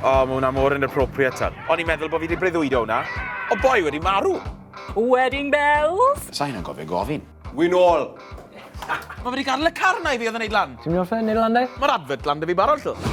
O, mae hwnna mor inappropriate tan. O'n i'n meddwl bod fi wedi breuddwydo hwnna. O boi wedi marw! Wedding bells! Sain yn gofio gofyn. Wyn ôl! Mae wedi gadw y car na i fi oedd yn neud lan. Ti'n mynd off e, neud lan de? Mae'r adfod lan da fi barod, llw.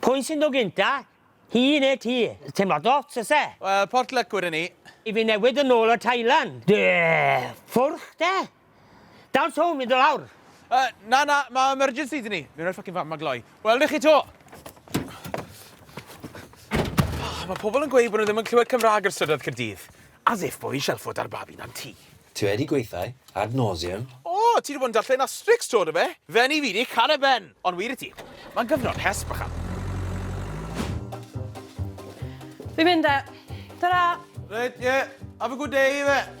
Pwy sy'n dod gynta? Hi neu ti? Teimlad ots oes e? Wel, port luck wedwn i. I fi newid yn ôl o Thailand. Duh! Ffwrch de! Dawns home i do lawr. Uh, na, na, mae emergency dyn ni. Mi'n rhoi ffocin fam ma gloi. Wel, chi to! Oh, mae pobl yn gweud bod nhw ddim yn clywed Cymraeg ar strydoedd Cyrdydd. As if bo i shelfo da'r babi na'n ti. Ti wedi gweithau ad nauseam. O! Ti 'di bod yn darllen Asterix 'to, do fe? Fe'n i fi 'di ca'l e Ben! Ond wir i ti, mae'n gyfnod hesb bychan. Fi'n mynd 'de. Ta-ra! Reit, ie. Have a good day, ife?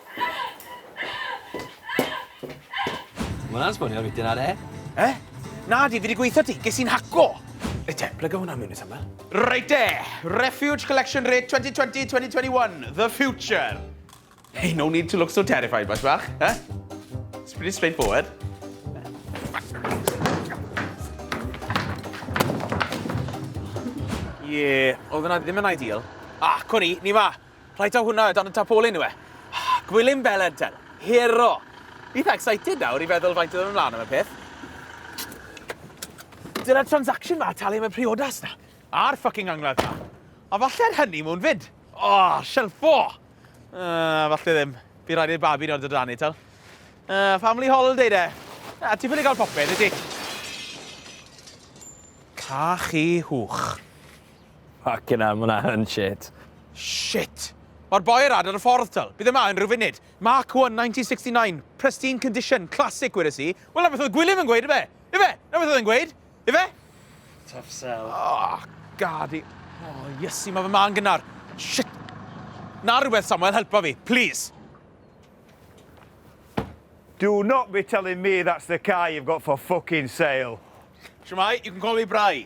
Mae hwnna'n sbonio rwy'n ar e. Eh? Na, di, fi wedi gweithio ti. Ges i'n haco. E te, plyga hwnna mewn i samel. Reit e, Refuge Collection Rate 2020-2021, The Future. Hey, no need to look so terrified, bach bach. Eh? It's pretty straightforward. Ie, yeah, oedd yna ddim yn ideal. Ah, cwn i, ni fa. Reit, a hwnna o dan y tarpolin yw e. Gwilym Belen ten. Hero! Eitha excited nawr i feddwl faint oedd yn ymlaen am y peth. Dyna'r transaction ma, talu am y priodas na. A'r fucking angladd ma. A falle'r hynny mwyn fyd. O, oh, shelfo! Uh, falle ddim. Fi rhaid i'r babi nod o dan i, tal. Uh, family holiday de. Uh, ti'n ffili gael popeth, ydy? Cachu hwch. Ffycin hell, ma hwnna yn shit. Shit! Mae'r boi yr ad ar y ffordd, tal. Bydd yma yn rhyw funud. Mark 1, 1969. Pristine condition. Classic, gwedais i. Wel, na beth oedd Gwilym yn gweud, ife? Ife? Na beth oedd yn gweud? Ife? Tough sell. Oh, gad i. Oh, iesu, mae fy ma'n gynnar. Shit! Na rhywbeth, Samuel, helpa fi, please. Do not be telling me that's the car you've got for fucking sale. Shwmai, you can call me Bry.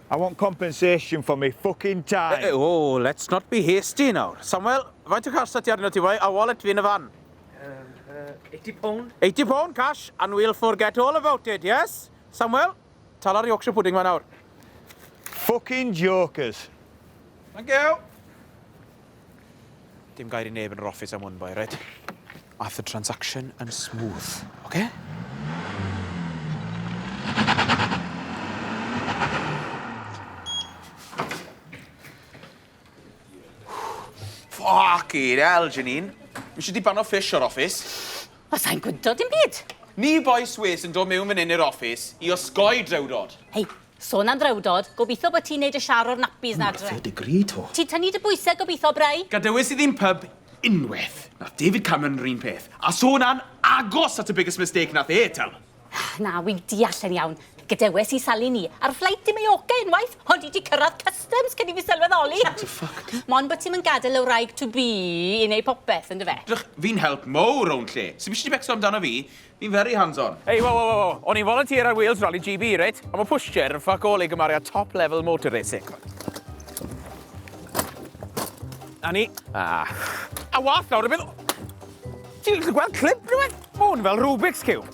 I want compensation for me fucking time! Eh, eh, oh, let's not be hasty nawr. Samuel, faint o cash sa ti arno ti fai, a wallet fi yn y fan? Um, uh, 80 pound. 80 pound cash, and we'll forget all about it, yes? Samuel, tala'r Yorkshire pudding ma nawr. Fucking jokers. Thank you. Dim gair i neb yn yr office am hwn, boi, right? Aeth y transaction yn smooth, oce? Ffycin hell, Janine. Nes i diban o fish o'r office. Wel, sai'n gwydo dim byd. Ni boi Swês yn dod mewn fan hyn i'r office i osgoi drewdod. Hei, Son am ddrewdod, gobitho bo ti'n neud y shar o'r nappies 'na adre. Wna dy degree to. Ti'n tynnu dy bwyse gobitho, Bry? Gadewis i ddim pyb unweth. Nath David Cameron yr un peth. A so na'n agos at y biggest mistake nath e tell. Na, wi'n deall yn iawn. Gadewes i Sali ni ar fflait i Mallorca unwaith, ond i di cyrradd customs cyn i fi sylweddoli. Shut the fuck up. Mon bo ti'm yn gadel y wraig to be i neud popeth, yndyfe? Dych, fi'n help mowr rownd lle. Sim isie ti becso amdano fi. Fi'n very hands on. Ei waw waw waw waw, o'n i'n volunteer ar Wales Rally GB reit, ond mae pushchair yn fuck all i gymaru â top level motor racing. A ni. Ah. A wath nawr, y bydd... Ti'n gallu gweld clip rhywbeth? Mae hwn fel Rubik's Cube.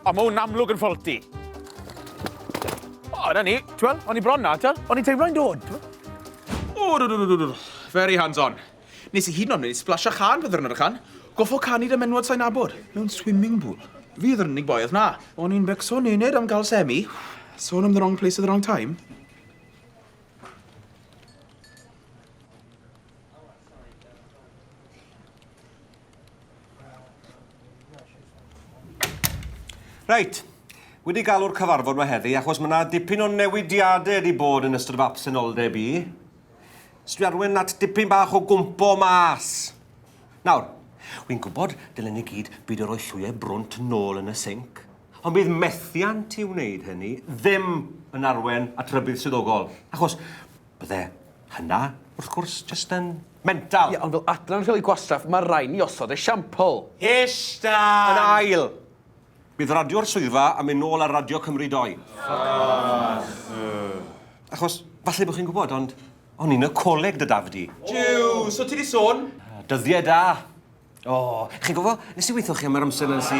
O, mae hwn amlwg yn faulty. O, na ni. Ti'n gweld? O'n i bron na, ti'n gweld? O'n i'n teimlo'n dod. O, dod, dod, dod, dod. Very hands-on. Nes i hyd yn oed neud splash a chân pan ddiwrnod y can. Goffo canu 'da menywod sai'n nabod. Mewn swimming pool. Fi oedd yr unig boi oedd 'na. O'n i'n becso nened am ga'l semi. Sôn am the wrong place at the wrong time. Reit, wedi galw'r cyfarfod 'ma heddi achos ma' 'na dipyn o newidiade wedi bod yn ystod fy absenoldeb i. Os dwi arwen at dipyn bach o gwmpo mas. Nawr, wi'n gwybod dylen ni gyd byd o roi llwyau brwnt nôl yn y sinc, ond bydd methiant i wneud hynny ddim yn arwen at rybudd swyddogol, achos bydde hynna, wrth gwrs, jyst yn mental. Ie, ond fel adran rheoli gwastraff, mae rhaid ni osod esiampl. Hysh, Dan! Yn ail, Bydd radio'r swyddfa am mynd nôl ar Radio Cymru Doi. Achos, falle bod chi'n gwybod, ond o'n i'n y coleg dy dafd di. Jiw, so ti di sôn? Dyddiau da. O, chi'n gwybod, nes i weithio chi am yr amser na'n si...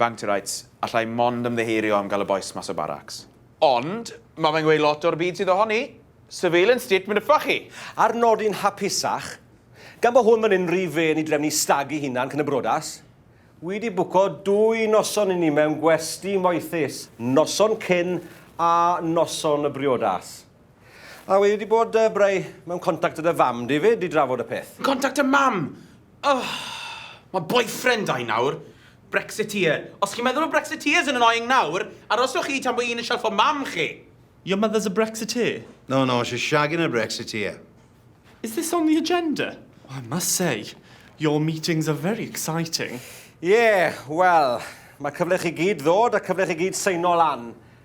Bang to rights, allai mond ymddiheurio am gael y bois mas o baracs. Ond, mae fe'n gweud lot o'r byd sydd ohoni. Surveillance state mynyffa chi! Ar nodyn hapusach, gan bo hwn fan hyn rhy fên i drefnu stag i hunan cyn y brodas, wi di bwco dwy noson i ni mewn gwesty moethus, noson cyn a noson y briodas. A wedi bod uh, breu mewn contact gyda fam di fyd i drafod y peth. Contact y mam! Ugh! Mae boyfriend da i nawr. Brexiteer. Os chi'n meddwl bod Brexiteers yn annoying nawr, aroswch chi tan bod un yn shelfo mam chi! Your mother's a Brexiteer? No, no, she's shagging a Brexiteer. Is this on the agenda? Oh, I must say, your meetings are very exciting. Yeah, well, mae cyfle chi gyd ddod a cyfle chi gyd seino lan.